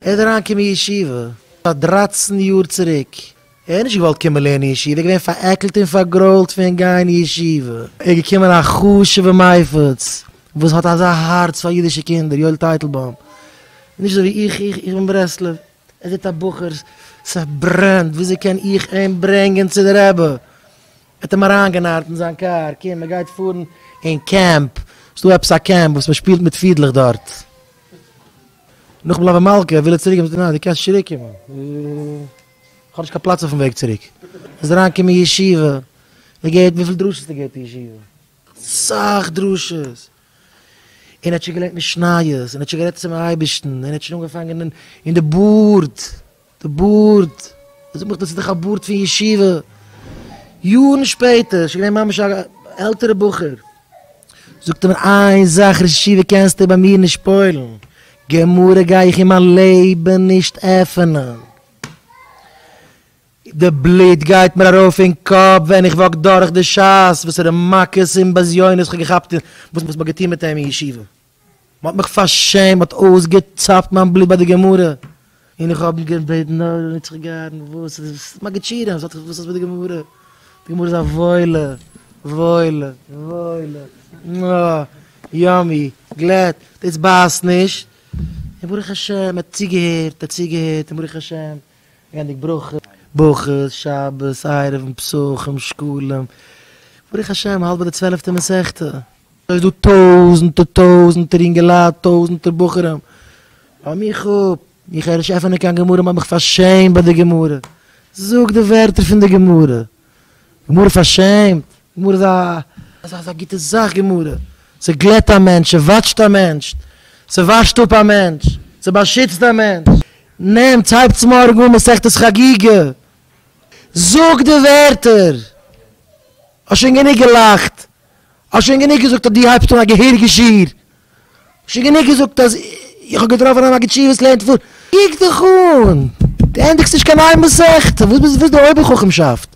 ער איז אריינגעקומען אין ישיבה פאר דרײַצן יאר צוריק, ער האט נישט געוואלט קומען לערנען אין ישיבה, ער איז געווען פארעקלט און פארגרוילט פון גיין אין ישיבה, איז געקומען א חשוב'ע מייפץ וואס האט אזא הארץ פאר אידישע קינדער, יואל טייטלבוים, נישט אזוי ווי איך, איך בין ברסלב, ער זעט א בחור ס'ברענט, וויאזוי קען איך אים ברענגען צו די רבי, ער האט אים אריינגענארט אין זיין קאר, קום מען גייט פארן אין קעמפ, ס'דא עפעס א קעמפ וואס מען שפילט מיט פידלעך דארט. נאכן בלאווען מלכה וויל ער צוריק, נאר דו קענסט צוריק קומען, איך האב נישט קיין פלאץ אויפן וועג צוריק, איז אריין קומען אין ישיבה, און געהערט וויפיל דרשות ער געבט אין ישיבה, סאך דרשות, און ער האט שוין געלערנט משניות, און ער האט שוין גערעדט צום אייבערשטן, און ער האט שוין אנגעפאנגען אין די בארד. די בארד, ער זאגט מיך דאס איז דאך א בארד פון ישיבה, יארן שפעטער, שוין געווען ממש א עלטערע בחור, זאגט ער מיר איין זאך ראש ישיבה קענסטו ביי מיר נישט פועל'ן, גמרא גיי איך אין מיין לעבן נישט עפענען, די בלוט גייט מיר ארויף אין קאפ ווען איך וואק דורך די שעות, וואסערע מכות און בזיונות איך האב געכאפט און וואס מען האט געטון מיט אים אין ישיבה. מען האט מיך פארשעמט, מען האט אויסגעצאפט מיין בלוט ביי די גמרא, און איך האב געבעטן נאר נישט זיך געהארן, וואס איז דאס מגיד שירים, וואס האט דאס מיט די גמרא, די גמרא איז א וואוילע, וואוילע, וואוילע, אה, יאמי, גלעד, דאס בייסט נישט, און ברוך השם, מען האט צוגעהערט, מען האט צוגעהערט, און ברוך השם. געבנדיג ברכות, ברכות, שבת, עירובין, פסחים, שקלים, ברוך השם האלט ביי די צוועלעפטע מסכתא, סאיז דא טויזענטער טויזענטער אינגעלייט טויזענטער בחורים, לאז מיך אפ, איך הער נישט עפענען קיין גמרא, מאך מיך פארשעמט ביי די גמרא, זאג די ווערטער פון די גמרא. גמרא פארשעמט, גמרא איז א אזא גוטע זאך, גמרא ס'גלעט א מענטש, ס'וואטשט א מענטש, ס'וואשט אפ א מענטש, ס'באשיצט א מענטש, נעמטס הייבטס מארגן אן מסכת חגיגה, זאג די ווערטער, האסט שוין גענוג געלאכט, האסט שוין גענוג געזאגט אז דו הייבסט אן א געהעריגע שיעור, האסט שוין גענוג געזאגט אז איך האב געטראפן א מגיד שיעור וואס לערנט פאר, קוק דיך אן, דו ענדיגסט נישט קיין איין מסכת, וואס איז דאס אויבער חכמ'שאפט?